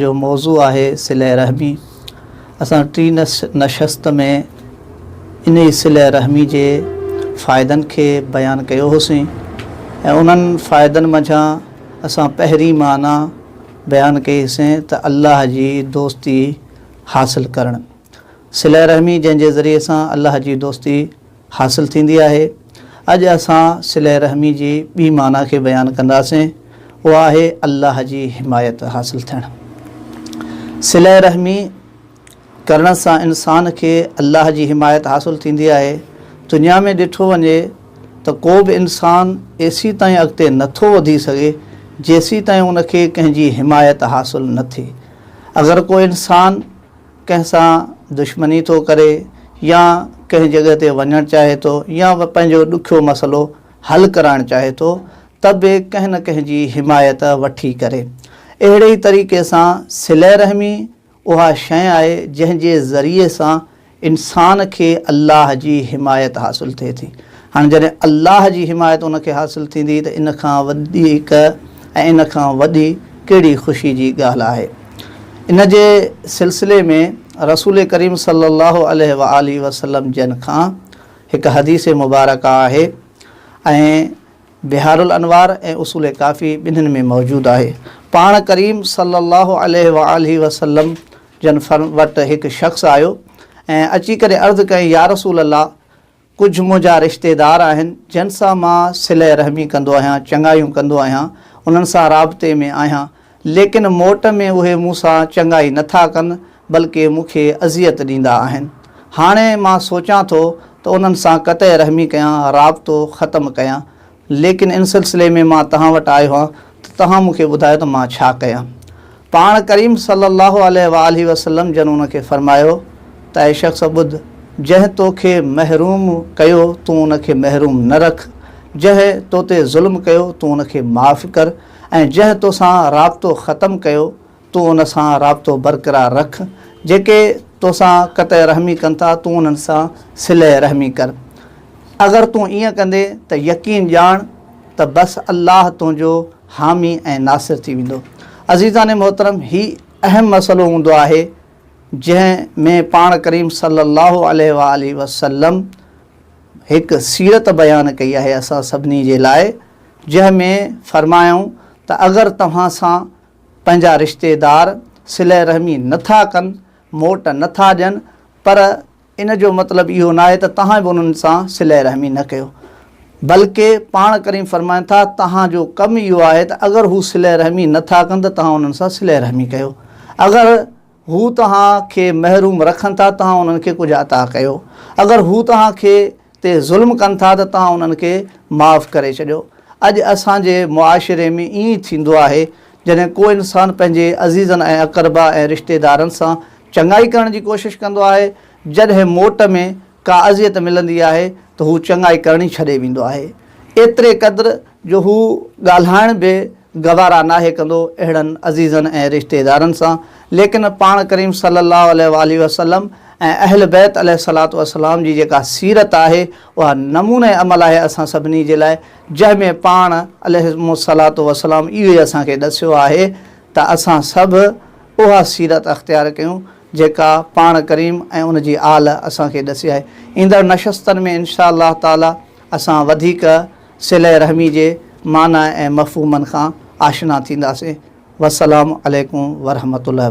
جو موضوع آهي صله رحمي اسان ٽين نشست ۾ انهي صله رحمي جي فائدن کي بيان ڪيو هوسين ۽ انهن فائدن منجهان اسان پهرين معنيٰ بيان ڪئي هسين ته الله جي دوستي حاصل ڪرڻ صله رحمي جنهن جي ذريعي سان الله جي دوستي حاصل ٿيندي آهي. اڄ اسان صله رحمي جي ٻي معنيٰ کي بيان ڪنداسين، اها آهي الله جي حمايت حاصل ٿيڻ. صله رحمي ڪرڻ سان انسان کي الله جي حمايت حاصل ٿيندي آهي. دنيا ۾ ڏٺو وڃي ته ڪو به انسان ايسي تائين اڳتي نه ٿو وڌي سگهي جيسي تائين ان کي ڪنهن جي حمايت حاصل نه ٿئي. اگر ڪو انسان ڪنهن سان دشمني ٿو ڪري يا ڪنهن جڳهه تي وڃڻ چاهي ٿو يا پنهنجو ڏکيو مسئلو حل ڪرائڻ چاهي ٿو ته به ڪنهن نه ڪنهن جي حمايت وٺي ڪري. اهڙي ئي طريقي سان صله رحمي اها شيء آهي جنهن جي ذريعي سان انسان کي الله جي حمايت حاصل ٿئي ٿي. هاڻي جڏهن الله جي حمايت ان کي حاصل ٿيندي ته ان کان وڌيڪ ۽ ان کان وڏي ڪهڙي خوشي جي ڳالهه آهي. ان جي سلسلي ۾ رسول ڪريم صلي الله عليه وآله وسلم جن کان هڪ حديث مبارڪه آهي ۽ بحارالانوار ۽ اصول ڪافي ٻنهين ۾ موجود آهي. پاڻ ڪريم صلي الله عليه وآله وسلم جن وٽ هڪ شخص آيو ۽ اچي ڪري عرض ڪيائين يارسول الله! ڪجهه منهنجا رشتيدار آهن، جن سان مان صله رحمي ڪندو آهيان، چڱايون ڪندو آهيان، انهن سان رابطي ۾ آهيان، ليڪن موٽ ۾ اهي مون سان چڱائي نه ٿا ڪن، بلڪه مون کي اذيت ڏيندا آهن. هاڻي مان سوچان ٿو ته انهن سان قطع رحمي ڪيان، رابطو ختم ڪيان. ليڪن ان سلسلي ۾ مان توهان وٽ آيو آهيان ته توهان مون کي ٻڌايو ته مان ڇا ڪيان؟ پاڻ ڪريم صلّي اللّٰه عليه واٰله وسلّم جن ان کي فرمايو ته اي شخص ٻڌ، جنهن تو کي محروم ڪيو تون ان کي محروم نه رک، جنهن تو تي ظلم ڪيو تون ان کي معاف ڪر ۽ جنهن تو سان رابطو ختم ڪيو، تون ان سان رابطو برقرار رک، جيڪي تو سان قطع رحمي ڪن ٿا، تون انهن سان صله رحمي ڪر. اگر تون ائين ڪندين ته يقين ڄاڻ ته بس الله تنهنجو حامي ۽ ناصر ٿي ويندو. عزيزان محترم! هي اهم مسئلو هوندو آهي، جنهن ۾ پاڻ ڪريم صلي الله عليه وآله وسلم هڪ سيرت بيان ڪئي آهي اسان سڀني جي لاء، جنهن ۾ فرمايائون ته اگر توهان سان پنهنجا رشتيدار صله رحمي نه ٿا ڪن، موٽ نه ٿا ڏين، پر ان جو مطلب اهو ناهي ته توهان به انهن سان صله رحمي نه ڪيو، بلڪه پاڻ ڪريم فرمائن ٿا، توهان جو ڪم اهو آهي ته اگر هو صله رحمي نه ٿا ڪن ته توهان انهن سان صله رحمي ڪيو، اگر. هو توهان کي محروم رکن ٿا توهان انهن کي ڪجهه عطا ڪيو. اگر هو توهان کي تي ظلم ڪن ٿا ته توهان انهن کي معاف ڪري ڇڏيو. اڄ اسان جي معاشري ۾ ائين ئي ٿيندو آهي جڏهن ڪو انسان پنهنجي عزيزن ۽ اقربا ۽ رشتيدارن سان چڱائي ڪرڻ جي ڪوشش ڪندو آهي جڏهن موٽ ۾ ڪا اذيت ملندي آهي ته هو چڱائي ڪرڻي ڇڏي ويندو آهي، ايتري قدر جو هو ڳالهائڻ به گوارا ناهي ڪندو اهڙن عزيزن ۽ رشتيدارن سان، ليڪن پاڻ ڪريم صلّي اللّٰه عليه واٰله وسلّم ۽ اهل بيت عليه الصلّوٰة والسّلام جي جيڪا سيرت آهي اها نموني عمل آهي اسان سڀني جي لاء جنهن ۾ پاڻ عليهم الصلّوٰة والسّلام اهو ئي اسان کي ڏسيو آهي ته اسان سڀ اها سيرت اختيار ڪيون. جيڪا پاڻ ڪريم ۽ ان جي آل اسان کي ڏسي آهي. ايندڙ نشستن ۾ انشاء الله تعاليٰ اسان وڌيڪ صلة رحمي جي معنيٰ ۽ مفهومن کان آشنا ٿينداسين. والسلام عليڪم ورحمة الله وبرڪاته.